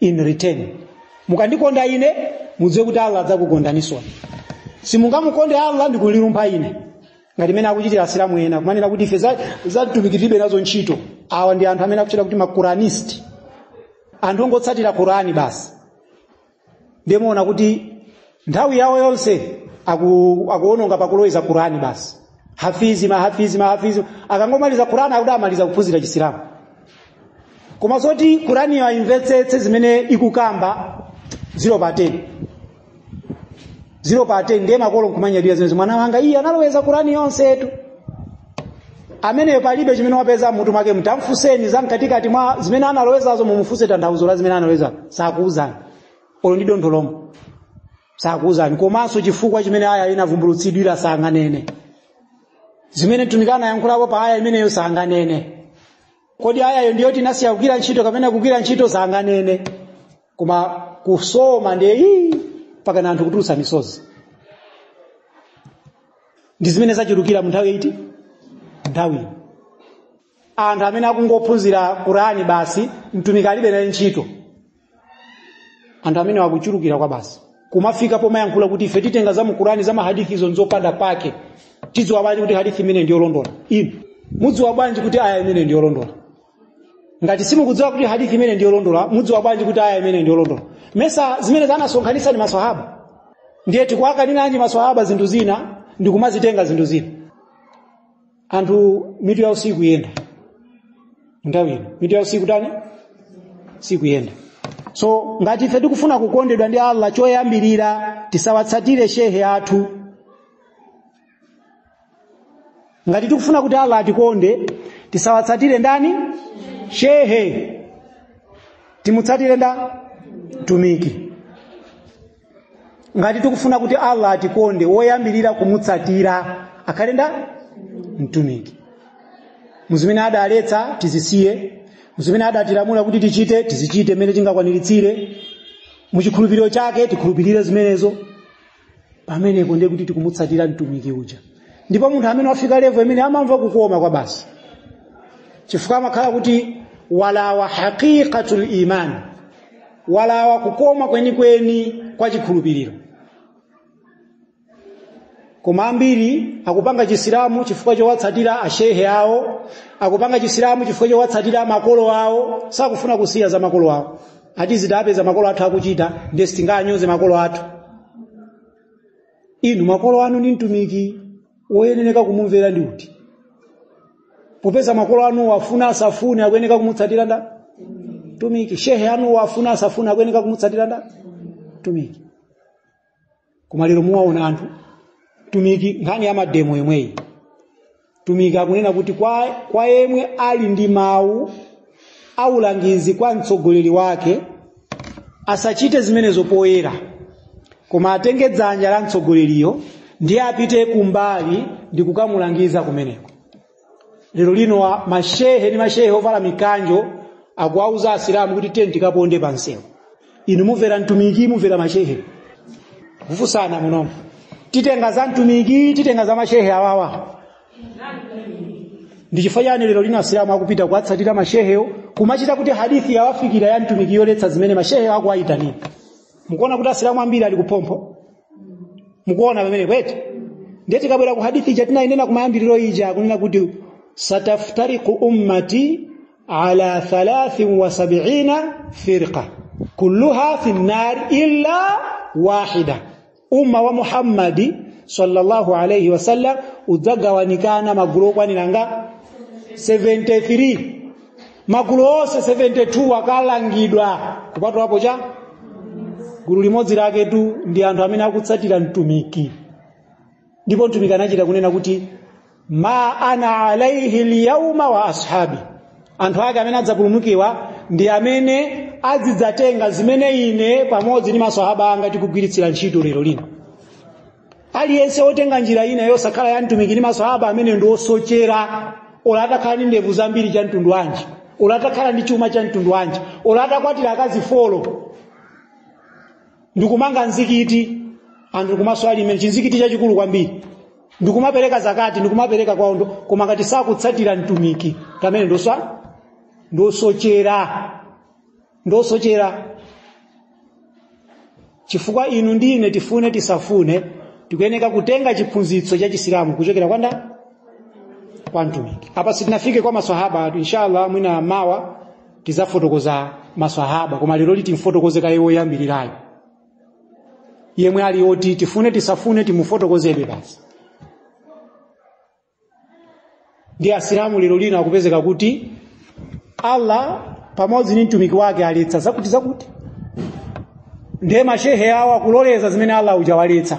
in return mukandikonda ine mudziwe kuti allah adzakukondaninsoni simungamukonde allah ndikundilumpha ine ngati mene akuchitira asilamu ena kumanena kuti ife za mtumiki tilibe nazo ntchito awa ndi anthu amene akutchedwa kuti makuranist anthu ongotsatira kurani basi ndiye muona kuti nthawi yawo yonse akuononga pakuloweza qurani basi hafizi mahafizi akangomaliza qurani akuti amaliza kuphunzira chisilamu koma zoti qurani ayimvetsetse zimene ikukamba 0 pa 10 0 pa 10 ndiye makolo nkumanyadira zimenezo mwana wanga iye analoweza qurani yonsetu ameneyo palibe chimene wapeza mutu mwake tamfunseni za mkatikati mwa zimene analowezazo mumufunse tanthauzo la zimene analowezazo sakuuzani olo ndi dontho lomwe sakuuzani komanso chifukwa chimene ayayo inavumbulutsidwira sanganene zimene mtumiki anayankhulapo pa aya imeneyo sanganene kodi ayayo ndi yoti inasiya kugwira ntchito kapena ikugwira ntchito sanganene koma kusoma ndiye ii mpakana anthu kutulutsa misozi ndi zimene zachulukira mu nthawi iti nthawi ino anthu amene akungophunzira kurani basi mtumiki alibe naye ntchito anthu amene akuchuluka kwa basi kumafika pomayankhula kuti ife titenga za mukurani za mahadithi izo nzopanda pake tidziwa bwanji kuti hadithi imeneyi ndiyolondola inu mudziwa bwanji kuti aya imeneyi ndiyolondola ngati simukudziwa kuti hadithi imeneyi ndiyolondola mudziwa bwanji kuti aya imeneyi ndiyolondola mesa zimenezo anasonkhanitsa ni maswahaba ndiye tikuwakaniranji maswahaba zinthu zina ndikumazitenga zinthu zina anthu mitu yawo sikuyenda nthawi ino mitu yawo sikutani sikuyenda so ngati ife tikufuna kukondedwa ndi allah choyambirira tisawatsatire shehe athu ngati tikufuna kuti allah atikonde tisawatsatire ndani shehe timutsatire ndani mtumiki ngati tikufuna kuti allah atikonde woyambirira kumutsatira akhale ndani mtumiki muzimene adaletsa tizisiye muzimene adatilamula kuti tichite tizichite mmene tingakwaniritsire muchikhulupiriro chake tikhulupirire zimenezo pamenepo ndiye kuti tikumutsatira mtumiki uja ndipo munthu amene wafika levo imeneyi amamva kukoma kwabasi chifukwa amakhala kuti walawa haqiqatul iman walawa kukoma kwenikweni kwa chikhulupiriro koma ambiri akupanga chisilamu chifukwa chowatsatira ashehe awo akupanga chisilamu chifukwa chowatsatira makolo awo sakufuna kusiya za makolo awo ati zidapeza makolo athu akuchita nde sitinganyoze makolo athu inu makolo anu ndi mtumiki woyeneka kumumvera ndi uti popeza makolo anu wafuna asafune akuyeneka kumutsatira ndani mtumiki shehe anu wafuna asafune akuyeneka kumutsatira ndani mtumiki koma lero muwaona anthu mtumiki nkhani ya mademo yomweyi mtumiki akunena kuti kwa, kwa yemwe ali ndi mawu aulangizi kwa mtsogoleri wake asachite zimenezo poyera koma atenge dzanja la mtsogoleriyo ndiye apite kumbali ndi kukamulangiza kumeneko lero lino wa- mashehe ndi mashehe ovala mikanjo akuwauza asilamu kuti tiyeni tikaponde pansewu inu mumvera mtumiki mumvera mashehe kufusana munomo titenga za mtumiki titenga za mashehe awawa ndi chifukwa chani lero lino asilamu akupita kuwatsatira mashehewo kumachitika kuti hadithi yawafikira ya mtumiki yoletsa zimene mashehe akuwayitanira mukuona kuti asilamu ambiri ali kuphompho mukuona pamene kwete ndiye tikabwera ku hadithi ija tinayinena kumayambiriro ija kunena kuti sataftariku ummati ala 73 firqa kulluha fi an-nar illa wahida umma wa muhammadi sallallahu alayhi wasallam udzagawanikana magulu okwanira angati 73 magulu onse 72 akalangidwa kupatulapo chani gulu limodzi lake tu ndi anthu amene akutsatira mtumiki ndipo mtumiki anachita kunena kuti ma ana alaihi lyauma wa ashabi anthu ake amene adzapulumukewa ndi amene azidzatenga zimene ine pamodzi ndi maswahaba anga tikugwiritsira ntchito lero lino aliyense wotenga njira ina yosakhala ya mtumiki ndi maswahaba ameneyo ndi osochera olo atakhala ndi ndevu zambiri cha mtundu wanji olo atakhala ndi chuma cha mtundu wanji olo atakwatira akazi folo ndikumanga mzikiti anthu ndikumaswali imene chimzikiti chachikulu kwambiri ndikumapereka zakati ndikumapereka kwawo ndo- koma ngati sakutsatira mtumikitu ameneyo ndoswa ndosochera ndosochera chifukwa inu ndi ine tifune tisafune tikuyeneka kutenga chiphunzitso cha chisilamu kuchokera kwa ndani kwa mtumiki apa sitinafike kwa maswahabatu inshallah mwina mawa tizafotokoza maswahaba koma lero lino timfotokoze kaye woyambirirayo yemwe ali oti tifune tisafune timufotokozebe basi ndi asilamu lero lino akupezeka kuti allah pamodzi ndi mtumiki wake aletsa zakuti zakuti ndiye mashehe awo akuloleza zimene allah ujawaletsa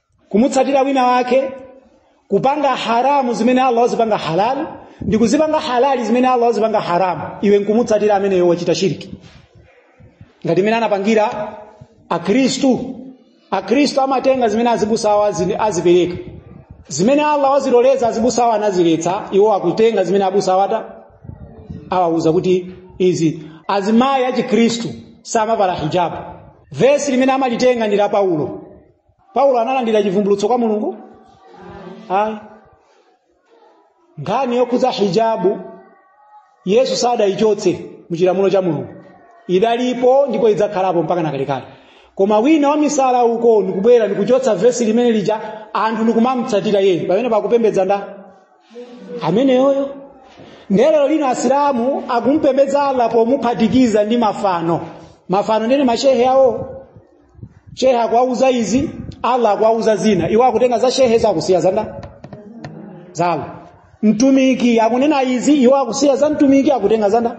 kumutsatira wina wake kupanga haramu zimene allah wazipanga halali ndi kuzipanga halali zimene allah wazipanga haramu iwe nkumutsatira ameneyo wachita shirki ngati mmene anapangira akristu akristu amatenga zimene azibusawo azi- azipereka zimene allah waziloleza azibusawo anaziletsa iwo akutenga zimene abusawo ata awauza kuti izi azimayi achikristu samavala hijabu vesi limene amalitenga ndi la paulo paulo analandira chivumbulutso kwa mulungu ayi nkhani yokhudza hijabu yesu sadayichotse mu chilamulo cha mulungu idalipo ndipo idzakhalapo mpaka nakalekale koma wina wamisala uko ndikubwera ndikuchotsa vesi limene lija anthu ndikumamtsatira yeye pamene pakupembedza nda ameneyoyo nde lero lino asilamu akumpembedza allah pomuphatikiza ndi mafano mafano ndene mashehe awo shehe akuwauza izi allah akuwauza zina iwo akutenga za shehe zakusiya zanda za allah mtumiki akunena izi iwo akusiya za mtumiki akutenga zanda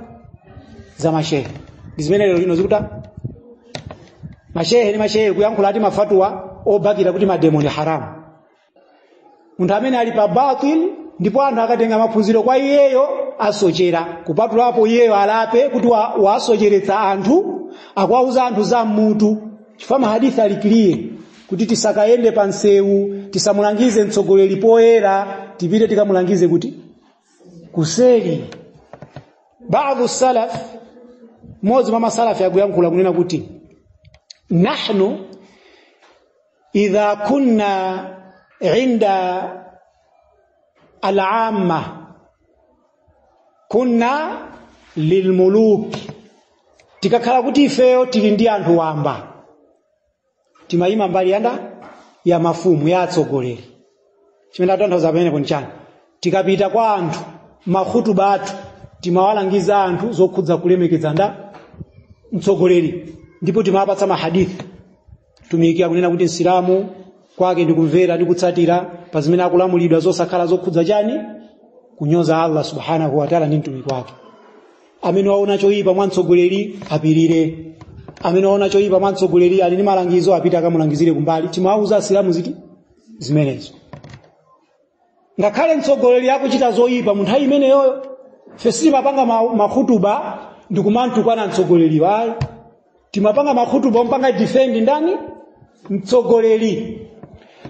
za mashehe ndi zimene lero lino zikuta mashehe ni mashehe kuyankhula ati mafatuwa obakira kuti mademo ni haramu munthu amene ali pa batil ndipo anthu akatenga maphunziro kwa iyeyo asochera kupatulapo iyeyo alape kuti wa- wasocheretsa anthu akuwauza anthu za mmutu chifukwa mahadithi ali clear kuti tisakayende pansewu tisamulangize mtsogoleri poyera tipite tikamulangize kuti kuseli baadhu salaf mmodzi mwa masalafi akuyankhula kunena kuti nahnu idha kunna inda alama kunna lilmuluki tikakhala kuti ifeyo tili ndi anthu wamba timayima mbali yanda ya mafumu ya atsogoleri chimene atanthauza pamenepo ndi chani tikapita kwa anthu makhutuba athu timawalangiza anthu zokhudza kulemekeza nda mtsogoleri ndipo timawapatsa mahadithi mtumiki akunena kuti msilamu kwake ndi kumvera ndi kutsatira pa zimene akulamulidwa zosakhala zokhudza chani kunyoza allah subhanahu wataala ndi mtumiki wake amene waona choyipa mwa mtsogoleri apirire amene waona choyipa mwa mtsogoleri ali ndi malangizo apite akamulangizire kumbali timawauza asilamu ziti zimenezo ngakhale mtsogoleri akuchita zoyipa mu nthawi imeneyoyo ife sitimapanga ma- makhutuba ndikumantukwana mtsogoleriyo ayi timapanga makhutuba ompanga defend ndani mtsogoleri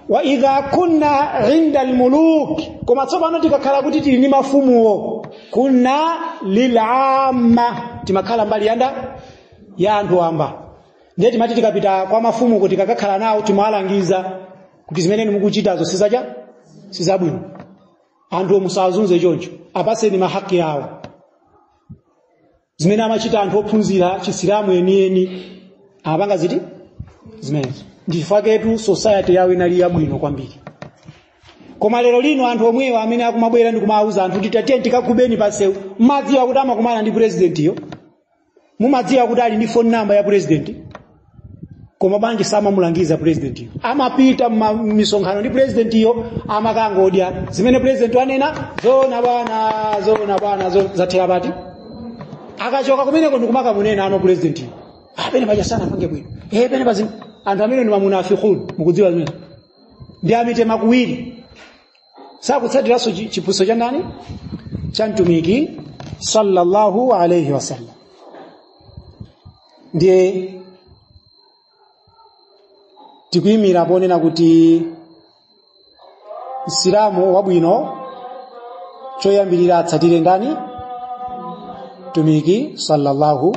wa idha kunna inda almuluk koma tsopano tikakhala kuti tili ndi mafumuwo kunna lilama timakhala mbali yanda ya anthu amba ndiye timati tikapita kwa mafumuko tikakakhala nawo timawalangiza kuti zimene inu mukuchitazo sizacha sizabwino anthu musazunze choncho apaseni mahaki awo zimene amachita anthu ophunzira chisilamu enieni amapanga ziti zimenezo ndifaketu society yawo inali yabwino kwambiri koma lero lino anthu omwewa amene akumabwera ndi kumawuza anthu kuti tatiyeni tikagubeni pansewu mumadziwa kuti amakumana ndi presidentiyo mumadziwa kuti ali ndi phone number ya president koma bwanji samamulangiza presidentiyo amapita mma- mmisonkhano ndi presidentiyo amakangodya zimene president wanena zona bwana zona bwana zo- zathera pati akachoka kumeneko ndikumakamunena ano presidentiyo apene paja sanapange bwino eh pene pazi anthu amene ndi mamunafiqun mukudziwa zimene ndi amitima iwiri sakutsatiranso chi- chiphunzitso cha ndani cha mtumiki sallallahu alaihi wasallam ndiye tikuimira ponena kuti msilamu wabwino choyambirira atsatire ndani mtumiki sallallahu